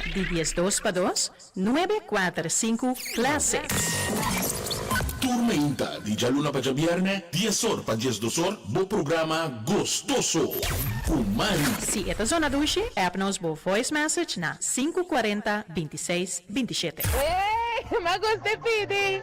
Di dies dos pa dos, nuebe, kuater, sinku, klase. Tur mainta di djaluna pa djabièrnè, dies or pa dies dos or, bo programa Gostoso ku Mari. Si e ta zona dushi, app nos bo voice message na sinku kuarenta binti seis binti shete. Ey, m'a gusta e pidi.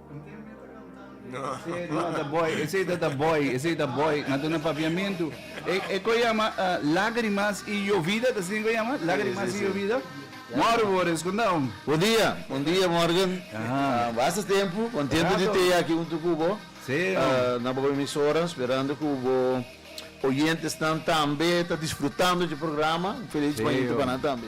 Esei ta ta boy, esei ta boy. Na duna papiamentu. E ko yama lagrimas i yovida, ta asina ku e yama? Lagrimas i yovida. Mòrgen por responda, hombre. Bon dia, bon dia Mòrgen. Basta tempu, kontentu di teye aki huntu ku bo. Na bo emisora, sperando ku bo oyentenan tambe ta disfrutando dje programa. Un feliz mañana pa nan tambe.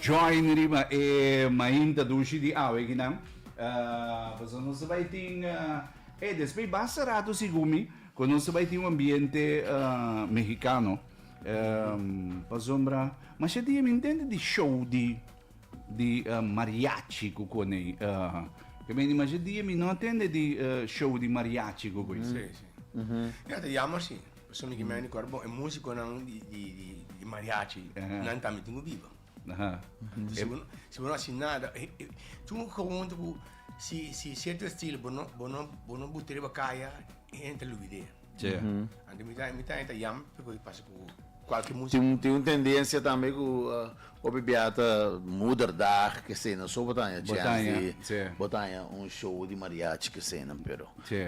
Join riba e mainta dushi di aweginan. Pasobra nos ta bai tin e despues basta ratu sigumi cu nos ta bai tin un ambiente Mexicano. Pasobra masha dia mi ntende di show di mariachi cu coney. Cu mendi masha dia mi no a tende di show di mariachi cu coy. Ya ta jammer si. Pasobra mi kimen ricorda bon, e musiconan di mariachi, nan tambe tin cu biba. Si bo no haci nada, tin un gewoonte cu si cierto estilo bo no, bo no, bo no buta riba caya, e hende ta lubide. Anto mi ta, mi ta yam pasobra pasa cu cualkier musico. Tin un tendencia tambe cu. Hopi bia ta moederdag kesena so bo ta haña chèns di bo ta haña un show di mariachi kesena pero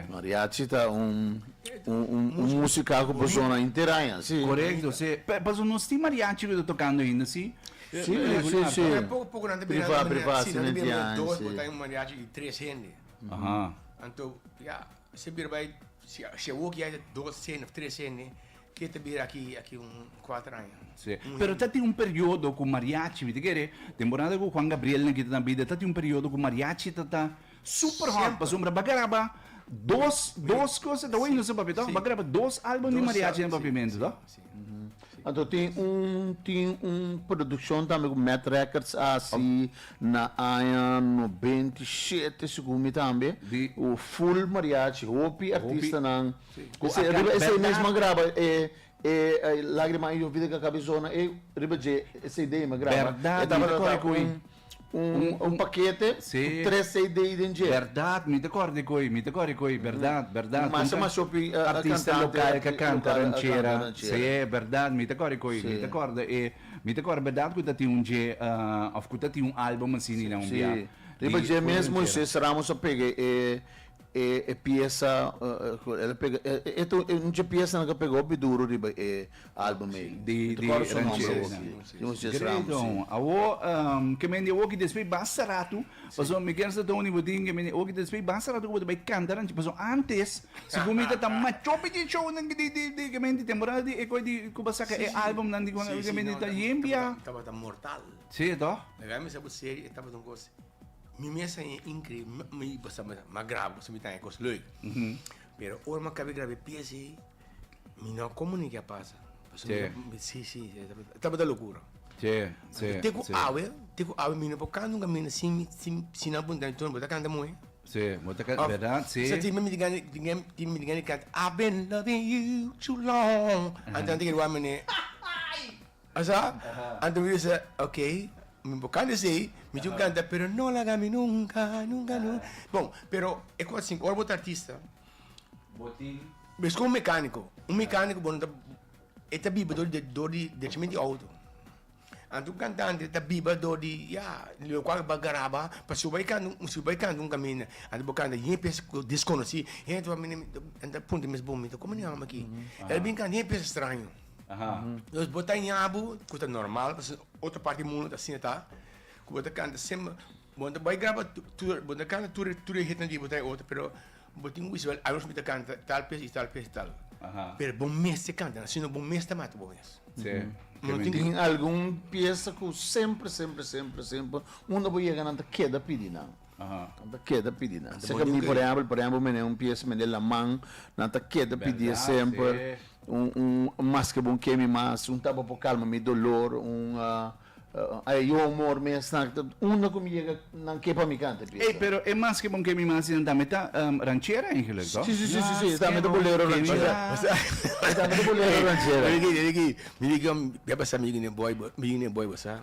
mariachi ta un un musika ku persona henter haña si korekto si pasobra nos tin mariachi luda tokando ainda si si regular ta pero poko poko nan ta bira nan ta bira nan ta bira dos bo ta haña un mariachi di tres hende anto ya. Esei bira bai si e woki ya ta dos sende of tres sende ke ta bira aki aki un kuater aña. Si, pero ta tin un periodo ku mariachi, mi ta kere temporada ku Juan Gabriel nan kita ta bida ta tin un periodo ku mariachi ta ta super hot pasobra ba graba dos dos kos ta wak i no sa papia to, ba graba dos album di mariachi na Papiamento to. Anto tin un tin un produkshon tambe ku mèt rèkòrds a hasi na aña nobenta i shete segun mi tambe ku ful mariachi hopi artistanan ku esei riba esei mesmu a graba e e Lágrima ha llovido en ka kabezona ei riba dje e cd me graba e tabata ta un. un pakete ku tres CD den dje. Bèrdat, mi ta kòrda di koe, mi ta kòrda di koe, bèrdat, bèrdat. Masha masha hopi artista lokal ka kanta ranchera, si, bèrdat, mi ta kòrda di koe, mi ta kòrda e, mi ta kòrda bèrdat ku ta tin un dje òf ku ta tin un álbum asina, un biaha. Riba dje mes Moises Ramos a pega e E e piesa cu el a pega e ta un dje piesa cu pega hopi duro riba e album ey. Di di Rancheros. Great Don. Awo ke mende awo ki despey basta ratu pasobra mi kende sa Tony bo tin ke mende awo ki despey basta ratu cu bo ta bay canta ranchero pasobra antes segun mi ta tan macho pichi show nan di di di ke mende temporada di e coy di cu ba saca e album nan di cu mende ta yembia. Tabata mortal. Si toh. Mira mi sa bo serio e tabata un cosa. Mi mes a e increíble. Mi basta ma graba, basta mi taña cos leuk. Pero ora ma cabe grabé pieza ei, mi no como ni ke a pasa. Paso mi Che. no- Sí, sí, sí, tabata locura. Che, che, Te ku che. awe, te ku awe mi no por canta un caminda sin mi, sin, sin nan punta mi, Tony, bo ta canta moe? Che, bo ta canta, Of, verdad? Che. Sa timba mi ta gana, di- gana- timba mi ta gana di canta I've been loving you too long. Anto nan ta kere wak mené. Asa anto mi bisa ok mi por canta esey mi tin canta pero no laga mi nunca nunca nun bon pero e cos asin ora bo ta artista bo tin mes como un mecanico un mecanico bo no ta e ta biba dor dor di drenchimiento di auto anto un cantante ta biba dor di ya locual bo a garaba pa suba e can si bo a canta un caminda anto bo canta yen pes cu desconoci yen ta puntra mes bo mi ta como ni a aki el a bin canta yen pes straño Nos bo ta ñabu cu ta normal pasobra den otro parti di mundo ta asina ta cu bo ta canta semper bo ta bay graba tur bo ta canta tur tur e hitnan di bo ta e otro pero bo tin wishawel ay bo ta canta tal pes y tal pes y tal pero bo mes ta canta nan sino bo mes ta mata bo mes tin algun pieza cu semper semper semper semper unda bo yega nan ta keda pidi nan. Nan ta keda pidi nan. Seka mi por ehempel, por ehempel mene un pies mende laman, nan ta keda pidi e semper, maske bo ke mi mas, un tabao por kalma mi dolor, un ai yo humor mes, unda ku mi yega nan ke pa mi kanta e pies an. Ey, pero e maske bo ke mi mas nan tambe ta ranchera eigenlijk to? Si, si, si, si, e tambe ta bolero ranchera. E tambe ta bolero ranchera. Mira aki, mira aki, mi di ken, mira pa sa mi yega ne boy, mi yega ne boy bo sa.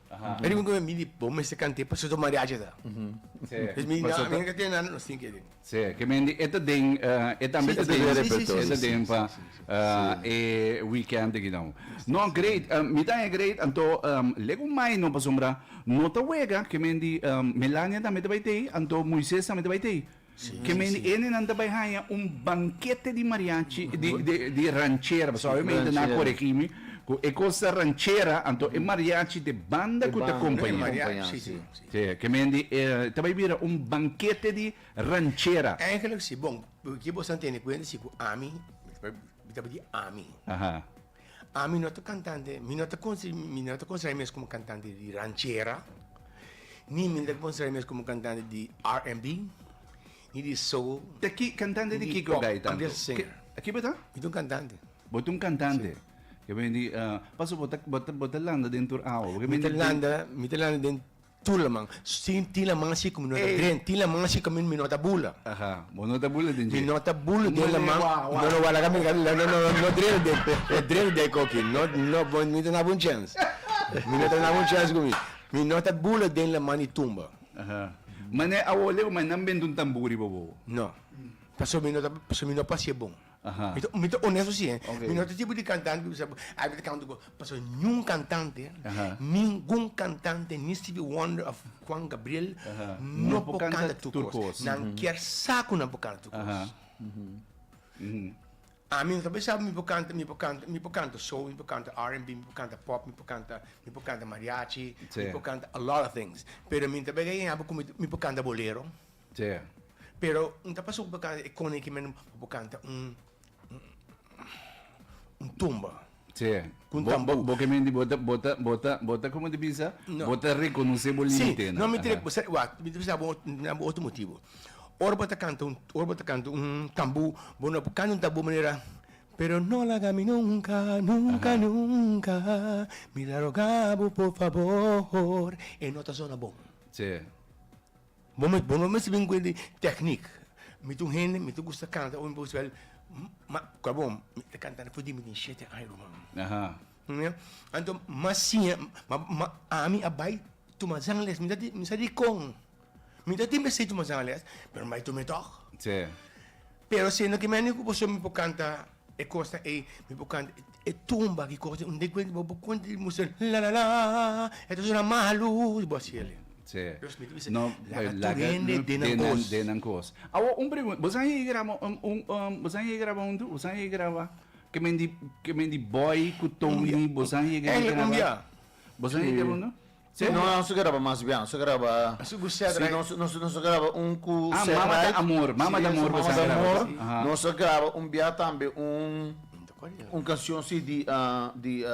Aja. Riba cu mi di, bo mester cant'e pasoso mariachi ta. Sí. Pues mi, Pasoso. mi no tiene nada, nos tin que den. Sí, que men di, e ta den, eh, e tambe Sí, ta sí, den, sí, sí, sí, e ta sí, den sí, pa sí, sí, sí. ah, e weekend aki nou. No, great, eh, mi ta e great, anto, em, lek un mai no pasobra no ta wega, que men di, em, Melania tambe ta bay tei, anto Moises tambe ta bay tei. Ke mendiendenan ta bai haña un bankete di mariachi, di, di, di ranchera, pasobra awe mi hende nan a koregí mi, ku e kos ta ranchera, anto e mariachi t'e banda ku ta kompañá. Si, ke mendi, e ta bai bira un bankete di ranchera. Eigenlijk si. Bon, ke boso a tene kuenta si ku ami, mi ta bai di ami. Ami no ta cantante, mi no ta considera mi mes como cantante di ranchera, ni mi no ta considera mi mes como cantante di RNB, ni di soul. Ta ki, cantante di kiko bay tanto? Kiba ta? Mi ta un cantante. Bo ta un cantante? Ke bini, paso bo ta landa den tur awa? Mi ta landa den Tur laman. Sin tin laman asi ku mi no ta dren. Tin laman asi ku mi mi no ta bula. Aha. Bo no ta bula den dje. Mi no ta bula den laman. Mane wah wah. No no wah laga mi laga no no no drena den no drena den koki no no bo mi ta naba un chens. Mi no ta naba un chens ku mi. Mi no ta bula den laman di tumba. Aha. Mane awo leu mane nan benta un tamburi pa bo. No. Paso mi no ta paso mi no pasia bon. Mi ta onesto si eh. Mi no ta tipo di cantante di bisa ay mi ta canta gospel. Pasobra ningun cantante, ningun cantante, ni Stevie Wonder of Juan Gabriel no por canta tur cos. Nan kier sa cu nan por canta tur cos. Ami no ta pensaba mi por canta, mi por canta, mi por canta soul, mi por canta RNB, mi por canta pop, mi por canta, mi por canta mariachi, mi por canta a lot of things. Pero mi ta baña yahbo cu mi por canta bolero. Djea. Pero N ta pasobra bo kanta e koni ki men bo kanta un un tumba. Djea. Ku un tambu. Bo ke men di bo ta bo ta bo ta bo ta komo ta bisa bo ta rekonosé bo limitenan. Si, no mi ta rek bo sa wak mi ta bisa bo mi ta na bo otro motibu. Ora bo ta kanta un ora bo ta kanta un tambu bo no por kanta un tambu manera pero no laga mi nunka nunka nunka mi ta roga bo por fabor e no ta sona bon. Djea. Bo me bo mester bin cuenta di techniek. Mi ta un hende mi ta gusta canta ora mi por spel ma cua bo mi ta canta na futi mi tin shete aña ruman. Anto ma siña ma ma ami a bai tuma zangles mi sa mi sa dicon mi no tin mester tuma zangles pero mi bai tuma tok pero siendo que mi a niño cu pasobra mi por canta E cosa ey mi por canta e tumba ki cosa un den cuenta bo por continua musi la la la e ta sona malu y bo haci ele. Sí. Los mi ta bisa No, laga eh, tur hende den nan cos. den nan cos. Awo un pregunta, boso a yega graba un un um boso a yega graba un dúo? Boso a yega graba ke men di ke men di Boy ku Tony boso a yega di graba? Engele cumbia. Boso a yega graba un dúo? Si no a su graba mas bien a su graba si no su graba un cu mama ta amor mama ta amor mama ta amor no su graba un bia tambe un cancion si di di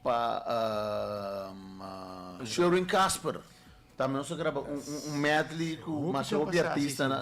pa sherwin casper tambe no su graba un medley cu mas hopi artista nan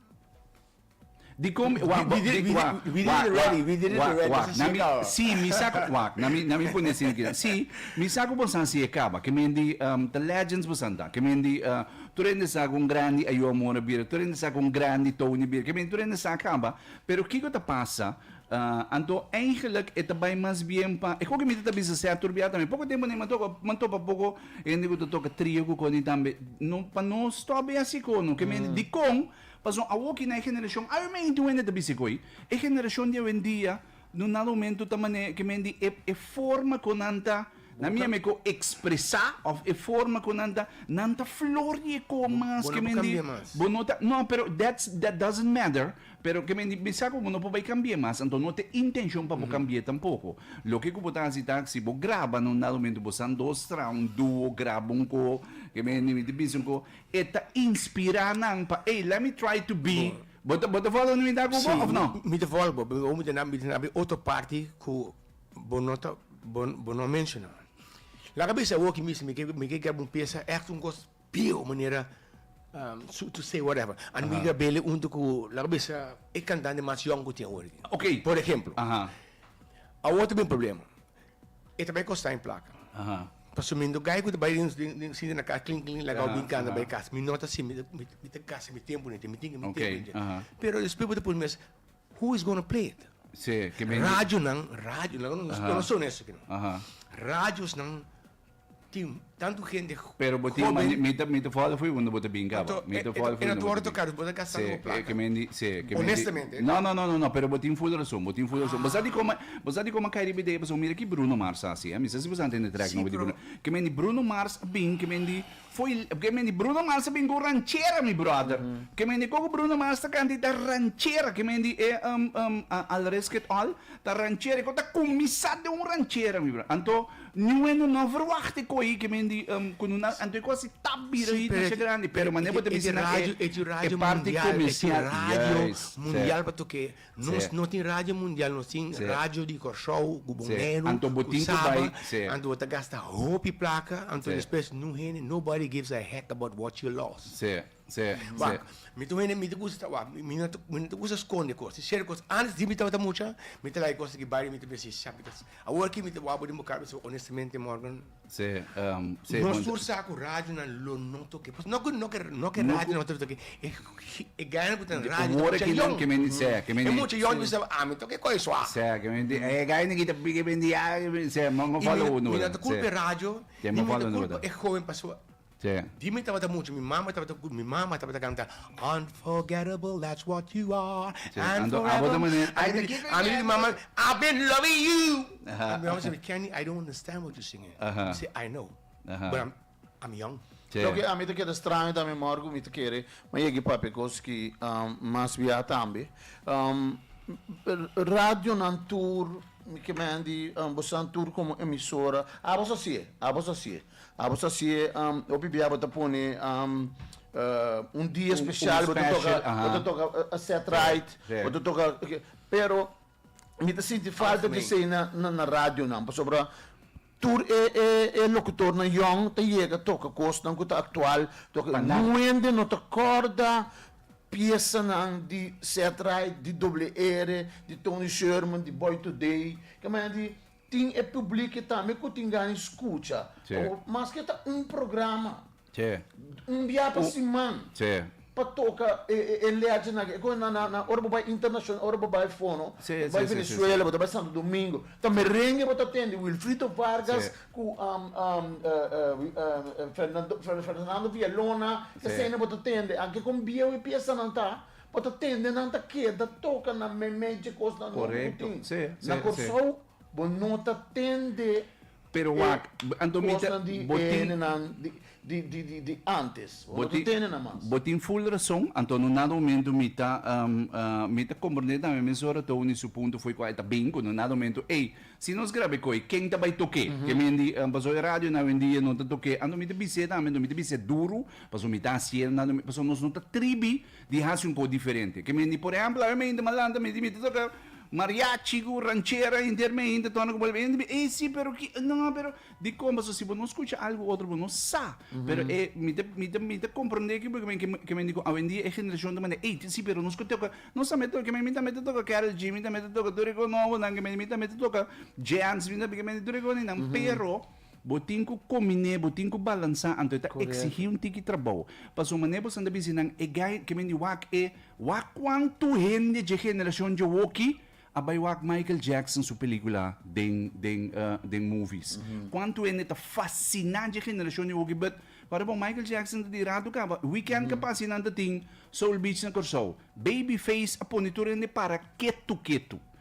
Dicom e wak bo di wak wak wak wak na mi si mi sa cu wak na mi na mi pone si ki si mi sa cu bo sa si e caba ke men di ta legends bo san ta ke men di tur hende sa cu un grandi Ayo Amor a bira tur hende sa cu un grandi Tony bira ke men tur hende sa caba pero kico ta pasa anto eigenlic e ta bay mas bien pa e cu ke mi ta bisa sea tur biaha tambe poco tempo aden mi a topa mi a topa poco Hende ku ta toka trio ku Connie tambe no pa nos to a bay asi ko no keme hende dikon paso awoki na e generashon awe me inti un hende ta bisa koy e generashon di awendia no na rumentu ta mane ke men di e e forma ku nan ta na mi ame ko ekspresa of e forma ku nan ta nan ta flor di e kon mas ke men di bo no ta no pero that's that doesn't matter Pero ke men bisa ku bo no por bai kambi'é mas, anto no te intenshon pa bo kambi'é tampoko. Loke ku bo ta hasi ta, si bo graba na un lado mentu bo san dos, tra un duo, graba un ko, ke men hendimi ta bisa un ko, e ta inspirá nan pa, ey, let me try to be, bo ta, bo ta fòlò mi ta ku bo, òf no? Si, mi ta fòlò bo, pero mi ta na, mi ta na bin otro parti ku bo no ta, bo, bo no menshoná. Laga bisa awor aki mismu, mi ke, mi ke graba un piesa, ègt un kos Pio manera su to say whatever a no yega bele hunto cu laga bisa e cantante mas yong cu tin awor aki. Ok. Por ehemplo. Awor ta bay un problema. E ta bay costa en placa. Pasobra mi no gay cu ta bay den den sinti na cas clink clink lagau bin canta bay cas. Mi no ta asin. Mi ta gasta mi tempo nete. Mi tin cu mi tempo nete. Pero despues bo ta pone mes who is gonna play it? Radionan, radio nan, no ta honesto aki no. Radiosnan Tin tantu hende hoben. Pero bo tin mane, mi ta mi ta follo fo'i unda bo ta binka bo. Mi ta follo fo'i unda bo ta binka. Bo ta gasta nobo plata. Ke men di, si. Ke men di. Honestamente. No, no, no, no, pero bo tin full rason, bo tin full rason. Bo sa di kome, bo sa di kome a kai riba ideia pasobra mira ki Bruno Mars a hasi, eh. Mi sa si bo sa a ntende trèk nobo di Bruno. Ke men di Bruno Mars a bin, ke men di, Foi porque mi di Bruno Mars a bin cu ranchera mi brother. Porque mi di coco Bruno Mars ta canta y ta ranchera que mi di e um um I'll risk it all ta ranchera y coco ta cuminsa den un ranchera mi brother. Anto New Wendo no verwacht e coye que mi di um cu nuna anto e cu así tap bira hit masha grandi pero mane bo ta bisa na e e parti comercial. Juist. Nos no tin radio mundial, nos tin radio di Kòrsou ku Boneiru, ku Saba, anto bo ta gasta hopi plaka, anto despues no hende, nobody gives a heck about what you lost. Wak, mi ta un hende, mi ta kusa, wak, mi no ta kusa skonde kos, di shèrt kos, antes di mi tabata mucha, mi ta like kos aki bario, mi ta bisa, mi ta shapita, awor aki mi ta wak bo den bo kara, mi ta bisa bo, honestamente Morgan. No sur sa ku radionan lo no toke. Pues no ku no ke no ke radio no ta toke. E e gana ku ta na radio ta mucha yon. E mucha yon mi sa ami toke kohe suave. Sè kimen di e gana ki ta piki bendi ya sè mi mi mi no ta kulpa e radio ni mi ta kulpa e hoven pasobra. te. Di mi tabata mucha mi mama tabata mi mama tabata canta unforgettable that's what you are and forever a mi di mama I've been loving you a mi mama sibi Kenny I don't understand what you singing mi si I know but I'm I'm young. Loke a mi ta keda straño ta mi mor ku mi ta kere ma yegi papia kos ki mas biaha tambe radionan tur mi ke men di bosan tur komo emisora a bos a sie a bos a sie Abo sa si e hopi bia abo ta pone un dia special bo ta toca bo ta toca set right bo ta toca pero mi ta sinti falta di esey na na radio nan pasobra tur e e e locutor nan yong ta yega toca cosnan cu ta actual wende no ta corda piesanan di set right di doble r di Tony Sherman di Boy Today ta manera di Tin e publiki tambe ku tin gani skucha. Sí. O maske ta un programa, Sí. un bia pa Un- siman, Sí. pa toka e e e leachenan aki. E kon na na na ora bo bai internashonal, ora bo bai fono, Sí, bo bai sí, sí, sí, Venezuela, sí. bo ta bai Santo Domingo, ta merenge bo ta tende Wilfrito Vargas Sí. ku am am e e wi- e e Fernando Fer- Fernando Villalona, Sí. eseinan bo ta tende. Anke kon biawe piesanan ta, pa ta tende nan ta keda toka na meme dje kosnan nobo ku Korekto. tin. Sí, sí, Na sí. Kòrsou bo no ta tende Pero e wak, b- anto mi ta- kosnan di bo tin- hende nan di di di di di antes. Bo Bo no ta tin- tende nan mas. Bo tin full rason, anto no nada momento mi ta am, a, mi ta komprende tambe mesora Tony di su punto fo'i kua e ta bin, ku no nada momento ey, si nos grab'e ko'i ken ta bai tok'e? Ke mi di, am, paso e radio na awendia no ta tok'e, anto mi ta bis'e tambe, anto mi ta bis'e duru, paso mi ta hasiel, nada mi, paso nos no ta tribi di hasi un po diferente ke mende por ehempel awor mi a hinter malanta mi tin mi ta toka mariachi ku ranchera a hinter mi a hinter torna ku bolero mi a hinter mi ey si pero ki no pero di kompas so si bo no skucha algu otro bo no sa pero e mi ta mi ta mi ta komprende ki porke men ke mende ku awendia e generashon ta manda ey tin si pero nos ke toka nos tambe ta toka mi tambe ta toka Karol G mi tambe ta toka tur e kos nobo nan ke mende mi tambe ta toka Jams mi tambe ke mende tur e kos ninan pero. Bo tin ku kominé, bo tin ku balansá, anto e ta eksihí un tiki trabou. Pasobra manera bo san ta bis'é nan, e gai, ke men di wak e, wak kuantu hende dje generashon dje woki a bai wak Michael Jackson su pelíkula den, den, den movies. Kuantu hende ta fasiná dje generashon dje woki but wak bo Michael Jackson ta di ratu kaba weekend ka pasa i nan ta tin Soul Beach na Kòrsou. Babyface a pone tur hende para ketu ketu.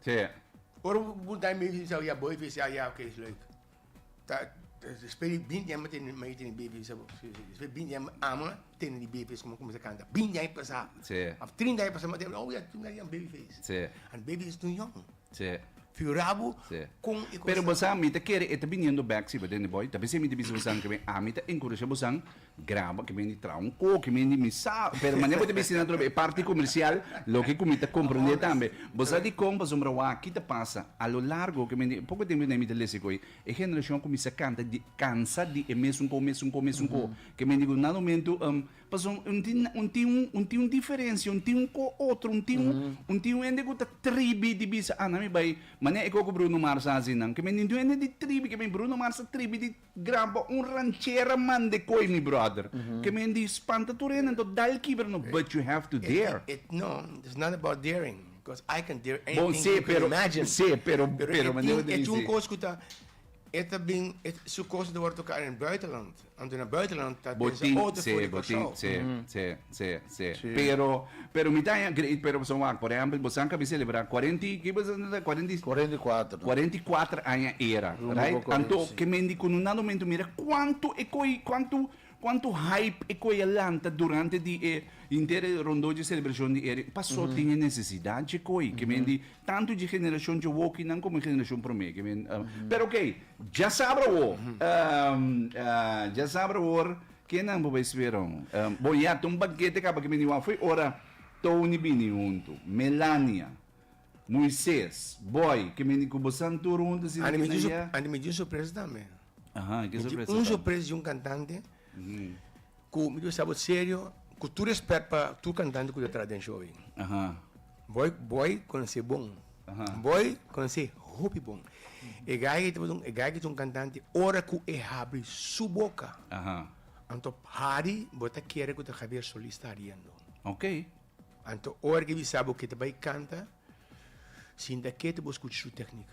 Sea. Ora bo punta mi di sa ya boy fis ya ya oke is leuk. Ta despues di binti aña mi tene mi mei tene baby sa bo despues di binti aña ama tene di baby komo kumsa kanta binti aña pasa Sea. of trinta aña pasa mi ta oh ya trinta aña baby fis Sea. and baby is too young Sea. figura bo Sea. kon e kos Pero bosa mi ta kere e ta biniendo bek si bo den di boy ta vese mi ta bisa bosa ke ami ta enkurasha bosa Graba ke men di Traunco, ke men di Misao, pero manera bo ta bisti nan atrobe e parti komersial, loke ku mi ta komprendé tambe. Bo sa di kon pasobra wak aki ta pasa, a lo largo ke men di, poko tempu atrás mi ta lesa ku ei, e generashon kuminsá kanta di kansa di e mesunko, mesunko, mesunko, ke men di ku nan momentu pasobra un tin un tin un un tin un diferensia, un tin un ko otro, un tin un un tin un hende ku ta tribi di bisa a nan mi bai manera e ko ku Bruno Mars a hasi nan, ke men di un hende di tribi ke men Bruno Mars ta tribi di Graba un ranchera mande koe mi brother ke men di spanta tur hende entou dal kibra no but you have to dare. No it's not about daring because I can dare anything that you can imagine bon se pero se pero pero e tin e tjun kos ku ta e ta bin su kos ta wòrdu toká den buitenland anto na buitenland ta pensa otro for di Kòrsou. Sí. Pero, pero mi ta haña great, pero pasobra wak, por ehèmpel, bo saka mi selebrá kuarenta i, kiba esaki nan ta? Kuarenta i. Kuarenta i kuater, no? Kuarenta i kuater aña era, Rumbo pa right? Anto, Korea, sí. ke men di ku no nada momento mira kuantu e koe, kuantu, kuantu hype e koe a lanta durante di e henter e rondó dje selebrashon di era. Pasó tin e nesesidat dje koe, ke men di tantu dje generashon dje wokinan komo e generashon promé, ke men. Pero, oké, djasabra awor, djasabra awor. Kenan bo bai sweron? Bon ya, ta un bankete kaba ke bini wafui ora Tony bini huntu, Melania, Moises, Boy, ke bini ku bosan tur huntu sin di na ya. Anto mi di un sorpresa tambe. Aha, e ke sorpresa ta? Mi di un sorpresa di un kantante ku mi ta bisa bo serio, ku tur respèt pa tur kantante ku ta traha den show ei. Aha. Boy boy konsi bon. Boy konsi hopi bon. E gay ki ta botun, e gay ki ta un kantante, ora ku e habri su boka, anto hari bo ta kere ku ta Javier Solis ta hariendo. Anto ora ki bisa bo ke ta bai kanta, sinta ketu bo skucha su teknik.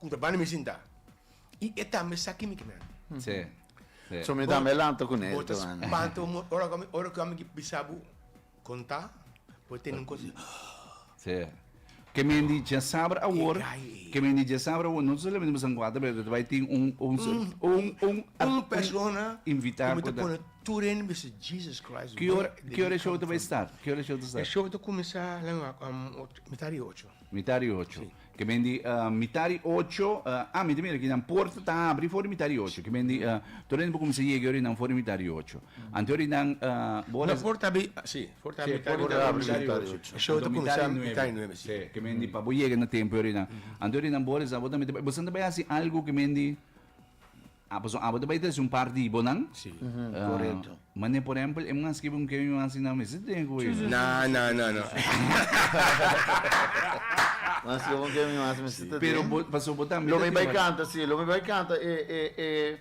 ku ta banda mi sinta i e tambe sa kimi ke mi handi. Sí, sí. So mi tambe lanta ku nel. Bo ta spanta un montón ora ku ami ora ku ami di bisa bo konta bo tene un kos. Sí. Ke mi di dje sabra awor, ke mi di dje sabra awor no ta solamente bo san kuater pero ta bai tin un un un un un persona invitá ku ta pone tur hende bisa Jesus Christ. Ki ora ki ora e show ta bai start? Ki ora e show ta start? E show ta kuminsá la mi wak mitá di ocho. Mitá di ocho. Sí. Ke men di ah, mitá di ocho, ah, ah, mi ta mira aki, nan porta ta abri for di mitá di ocho. Ke men di, ah, tur hende por kuminsá yega yori nan for di mitá di ocho. Anto yori nan, ah, bo No, res- for ta abri, ah, sí, for ta Sí, abri por mitá ta di abri ocho. mitá di ocho. E show Anto ta mitá di kuminsá mitá di nuebe, sí. Sí, ke men di pa bo yega na tempu yori nan. Anto yori nan bo resá, bo ta mira, bo esnan ta bai hasi algu ke men di, Ah, pasobra abo ta bai trese un par di bonan. Sí. Uhuh, corecto. Mane, por ehempel, e manga scribi un kemi manga asina, mester drink cu Sí, sí, ella. sí, sí, sí, sí, sí, sí. Manga scribi un kemi manga asina, mester ta drink. Pero bo, pasobra bo tambe ta tin. Lo mi bai canta, sí, lo mi bai canta e, e, e,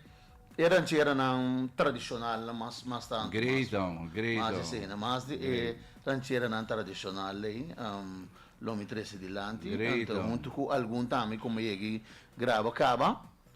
e rancheranan tradicionalnan mas, mas tanto. Great, amo, great, amo. Mas esena, mas di e rancheranan tradicional lei, umm, lo mi trese dilanti. Great, amo. Hunto cu algun tambe cu mi yegi graba caba.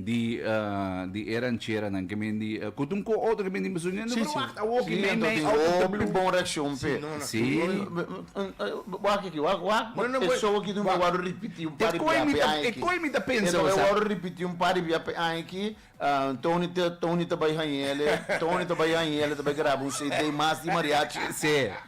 di di e rancheranan ke men di ku ta un ku otro ke men di un besun no pero wak awoki men me tin hopi di bon reakshon p'e si wak aki wak wak e show aki no me wòrdu ripití un par di bia p'e aña aki e no me wòrdu ripití un par di bia p'e aña aki Tony Tony ta bai hañ'e ele Tony ta bai hañ'e ele ta bai graba un cd mas di mariachi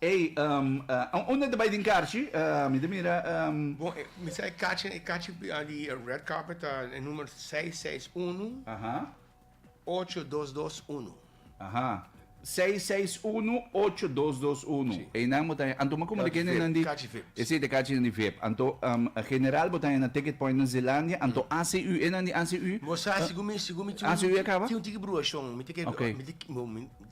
Ey, um, uh, unda ta bai den karchi? Uh, mi ta mira, um. Bon, e, mi sa e kachi, e kachi di e red carpet ta e number seis seis uno, Aha, ocho dos dos uno. aha. Seis seis uno, ocho dos dos uno. Si. Eynan bo ta haña. Anto, ma komo te Kachi kende nan vip, di. kachi vip, si. Esei ta kachinan di vip. Anto, um, general bo ta haña na ticket point na Zeelandia. Anto ACU, e nan di ACU? Bo sa, segun mi, segun mi tin un, ACU a kaba? tin un tiki bruashon. Mi ta ke, Ok. mi ta ke, bo, mi.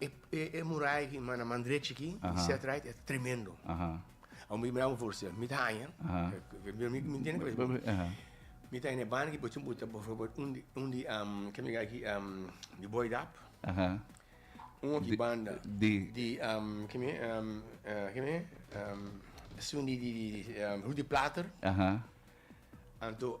E muraya aki na man drechi aki di set right e ta tremendo. Awor mi miraba for sel, mi ta haña, mi tene cabeza bon, mi ta haña na e banda aki por ejemplo por ejemplo un di kico mi gaki di Boydap, un aki banda di kime Rudy Plater, anto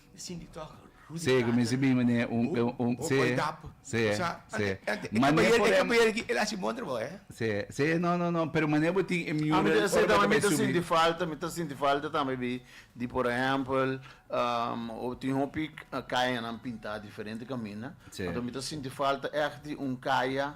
Se ku mi si bin manera un un se se se manera por em se se no no no pero manera bo tin e mural ora bo ta bay subi. Mi ta sinti falta mi ta sinti falta tambe di di por ehempel tin hopi kayanan pinta diferente kaminda mi ta sinti falta ech di un kaya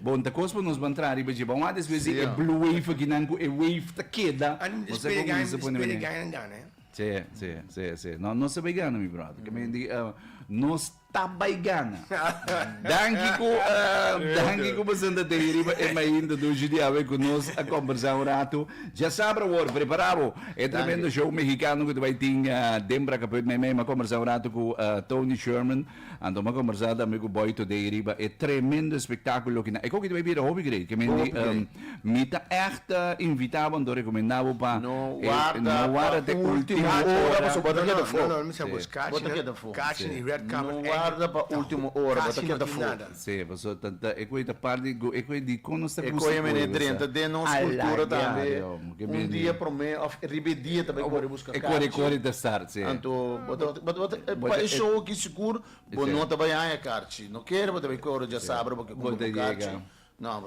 Bon ta kos pa nos ban traha riba dje bawá despues di e blue wave aki nan ku e wave ta keda nos ta ku usa pone mene. Sí, sí, sí, sí. No, nos ta bai gana mi brother. Ke men di nos ta bai gana. Danki ku danki ku bo sinta te riba e mainta dushi di awe ku nos a kombersá un ratu. Dja sabra wòrdu, prepará bo. E tremendo show mehikano ku ta bai tin den Bracapuit meimei. Mi a kombersá un ratu ku Tony Sherman. Anto mi a kombersá tambe ku Boy Today riba e tremendo espektákulo ki nan. E koki ta bai bira hopi grei. Ke mendi mi ta ègt a invitá bo anto rekomendá bo pa no warda te último ora pasobra bo ta keda afó. No, no, mi sa bo es catchy nan. Catchy nan i red carpet èk. No warda pa último ora, bo ta keda afó. Sí, paso ta ta e koe ta part di go e koe di kon nos ta E koe mene e drenta den nos kultura tambe, un dia promé òf riba e dia ta bai kore buska karchi. E kore kore ta start, sí. Anto bo ta bo ta pa e show aki sigur bo no ta bai haña karchi, no kere bo ta bai kore djasabra bo ke kumpra bo karchi, no.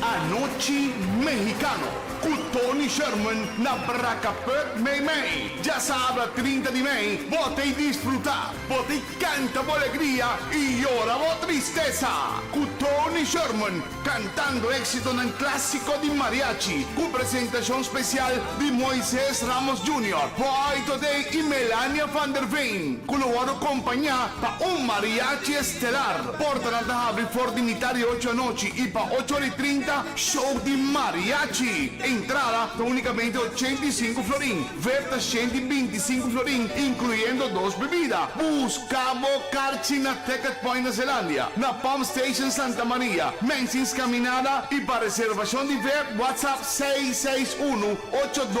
Anochi Mexicano cu Tony Sherman na Bracapup mey mey. Djasabra trinta di mey bo tey disfruta, bo tey canta bo alegria y yora bo tristesa cu Tony Sherman cantando exitonan clasico di mariachi cu presentacion special di Moises Ramos Junior, Boy Today y Melania Van Der Veen cu lo wordo compaña pa un mariachi estelar. Portanan ta habri for di mitá di ocho anochi i pa ocho or i trinta show di mariachi. Entrada ta únikamente ochenta i sinku florin. Vep ta shent i binti i sinku florin, inkluyendo dos bebida. Buska bo karchi na Ticket Point na Zeelandia, na Pump Station Santa Maria, Mensing's Caminada i pa reservashon di vep whatsapp seis seis unu ocho dos